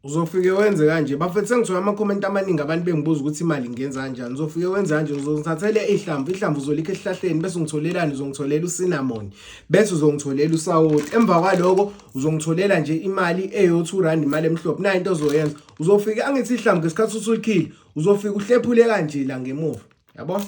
uzofike wenze kanje bafethu sengithola amakhomenti amaningi abantu bengibuza ukuthi imali ngenza kanjani uzofike wenze kanje uzongithathela ihlamvu ihlamvu uzolikha esihlahleni bese ungitholelani uzongitholela usinamoni bese uzongitholela usawoti emva kwaloko uzongitholela nje imali eyo-two rand imali emhlophe nayo into ozoyenza uzofike angithi ihlamvu ngesikhathi usulikhile uzofike uhlephule kanje la ngemuva yabo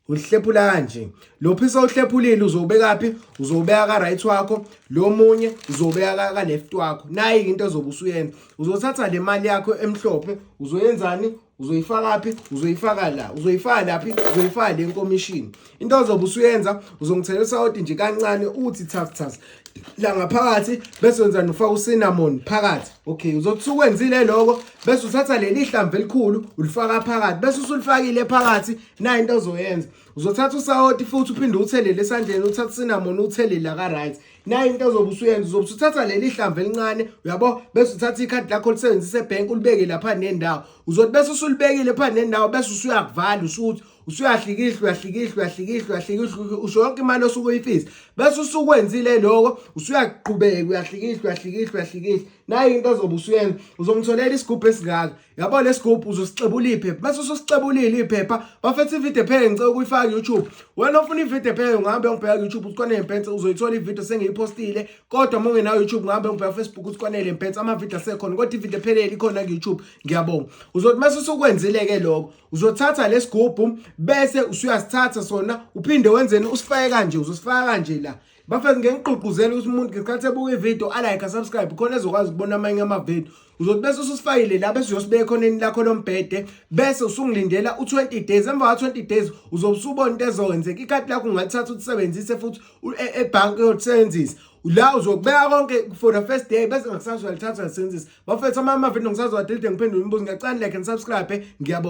uhlephula kanje lo phisa uhlephulile uzobekaphi uzobeka ka right wakho lo munye uzobeka ka left wakho nayi into ezobe usuyena uzothatha le mali yakho emhlophe uzoyenzani uzoyifaka phi uzoyifaka la uzoyifaka laphi uzoyifaka le nkomishini into ozobe usuyenza uzongithela usawoti nje kancane uthi thas thas la ngaphakathi bese wenza nofaka ucinnamon phakathi okay uzothi sukwenzile lokho bese uthatha leli hlamvu elikhulu ulifaka phakathi bese usulifakile phakathi nayo into ozoyenza uzothatha usawoti futhi uphinde uthelele esandleni uthatha cinnamon uthelele aka right nayo into ozobe usuyenza uzobe usuthatha leli hlamvu elincane uyabo bese uthatha ikhadi lakho olisebenzisa ebank ulibeke lapha nendawo uzothi bese usulibekile pha nendawo bese usuyakuvala usuthi usuyahlikihla uyahlikihla uyahlikihla uyahlikihla usho yonke imali osuke uyifisa bese usukwenzile lokho usuyakuqhubeka uyahlikihla uyahlikihla uyahlikihla nayo into ozobe usuyenza uzomtholela isigubhu esingaka yabo lesigubhu uzosixebula iphepha bese usosixebulile iphepha bafethe ivideo ephele ngicela ukuyifaka YouTube wena ofuna ivideo ephele ungahambe ungibheka YouTube usikwanele mpense uzoyithola ivideo sengiyipostile kodwa uma ungenayo YouTube ungahambe ungibheka Facebook usikwanele mpense amavideo asekhona kodwa ivideo ephelele ikhona ku YouTube ngiyabonga uzothi mase usukwenzile ke lokho uzothatha lesigubhu bese usuyasithatha sona uphinde wenzeni usifake kanje uzosifaka kanje la bafethu ngeke ngigqugquzele ukuthi umuntu ngesikhathi ebuka ividiyo alike asubscribe khona ezokwazi ukubona amanye amavidiyo uzothi bese ususifayile la bese uyosibeka ekhoneni lakho lombhede bese usungilindela u20 days emva ka20 days uzobe usubona into ezokwenzeka ikhadi lakho ungalithatha ulisebenzise futhi e, ebhanki uyolisebenzisa la uzokubeka konke for the first day bese ngakusasa uyalithatha ulisebenzisa bafethu amanye amavidiyo ngisazowadelete ngiphendule imibuzo ngiyacani like and subscribe ngiyabonga